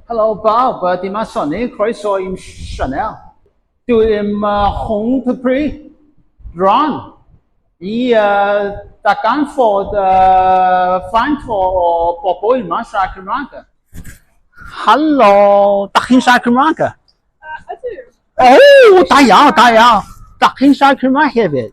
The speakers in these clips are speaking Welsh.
Helo bawb, dyma Sonny, croeso i'm sianel. Dwi ddim uh, hwn to pri, dron, i uh, daganfod uh, faint o, o bobl yma siarad Cymraeg. Helo, da chi'n siarad Cymraeg? Ydw. O, da iawn, da iawn. Da chi'n siarad Cymraeg hefyd?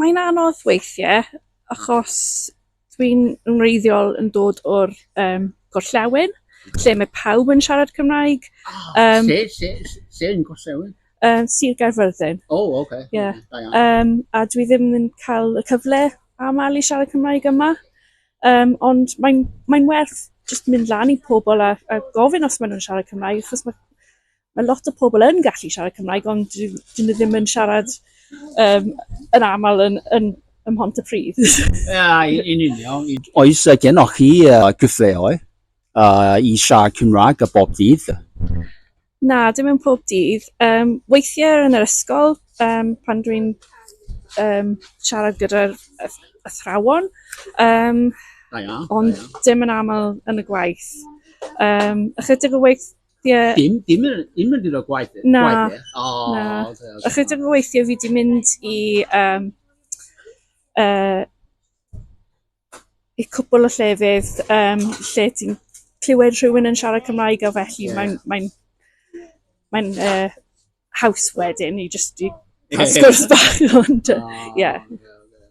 Mae'n anodd weithiau achos dwi'n yn wreiddiol yn dod o'r um, gorllewin, lle mae pawb yn siarad Cymraeg. Oh, um, lle, lle, lle yn gorllewin? Um, Sir Gaerfyrddin. O, oh, oce. Okay. Yeah. Okay, um, a dwi ddim yn cael y cyfle aml i siarad Cymraeg yma. Um, ond mae'n mae werth jyst mynd lan i pobl a, a gofyn os maen nhw'n siarad Cymraeg, achos mae Mae lot o pobl yn gallu siarad Cymraeg ond dwi dwi ddim yn siarad yym yn aml yn yn ym Mhontypridd. Ia, yn union. Oes gennych chi gyfleoedd i siarad Cymraeg a bob dydd? Na, dim yn pob dydd. Um, weithiau yn yr ysgol um, pan dwi'n um, siarad gyda'r athrawon, um, da iawn, ond da iawn. dim yn aml yn y gwaith. Um, ychydig o waith Ie. Dim, dim, yn- dim yn mynd o gwaith. Na, gwaith, ie? O, na. oce, oce. Achos dim weithio fi di mynd i... Um, uh, I cwpl o llefydd um, lle ti'n clywed rhywun yn siarad Cymraeg a felly Ie. yeah. mae'n mae'n mae'n uh, haws wedyn i just i cael sgwrs bach ond uh, Ie. O, oce, oce.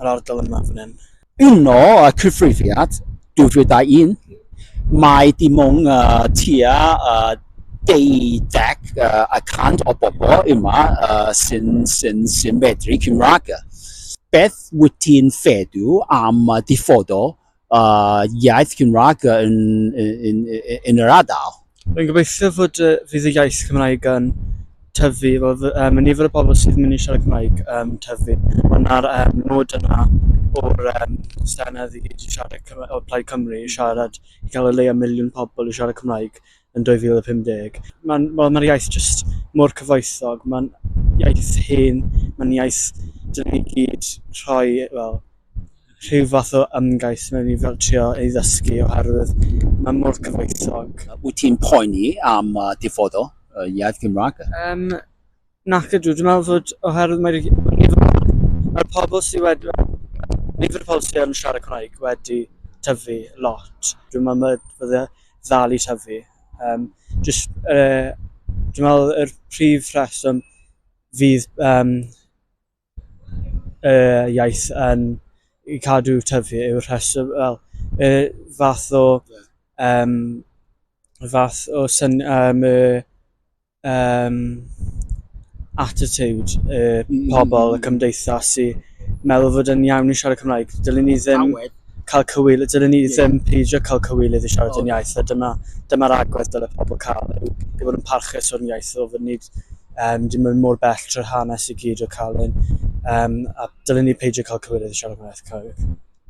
yr ardal yma fan hyn. Yno, y cyfrifiad 2001, mae dim ond uh, tua uh, deuddeg uh, y cant o bobl yma uh, sy'n sy sy medru Cymraeg. Beth wyt ti'n feddwl am y diffodol uh, iaith Cymraeg yn, yn, yn, yn yr ardal. Rwy'n gobeithio fod uh, fydd y iaith Cymraeg yn tyfu, fod um, y nifer o bobl sydd yn mynd i siarad Cymraeg um, tyfu. Ond na'r um, nod yna o'r um, stenedd i gyd i siarad Cymru, o Plaid Cymru i siarad, i gael y leia miliwn pobl i siarad Cymraeg. yn 2050. Mae'n ma, ma iaith jyst mor cyfoethog, mae'n iaith hen, mae'n iaith dyn ni gyd rhoi fel, rhyw fath o ymgais mewn i fel trio ei ddysgu oherwydd mae'n mor cyfoethog. Wyt ti'n poeni am uh, diffodo uh, iaith Gymraeg? Um, Nac ydw, dwi'n meddwl fod oherwydd mae'r nifer mae'r pobl sydd wedi... nifer y pobl sydd yn siarad Cymraeg wedi tyfu lot. Dwi'n meddwl mae fydde ddal i tyfu. Um, just, uh, dwi'n meddwl yr prif rheswm fydd um, y iaith yn cadw tyfu yw'r rheswm wel y fath o yym y fath o syn- yym y yym attitude y pobl y cymdeithas i meddwl fod yn iawn i siarad Cymraeg dylen ni ddim... cael cywilydd, dylwn ni ddim peidio cael cywilydd i siarad yn iaith, a dyma, dyma'r agwedd dylai pobl cael, yw i fod yn parchus o'r iaith, o fod nid um, dim yn mor bell trwy'r hanes i gyd o cael un, um, a dylwn ni peidio cael cywilydd i siarad yn iaith Cymraeg.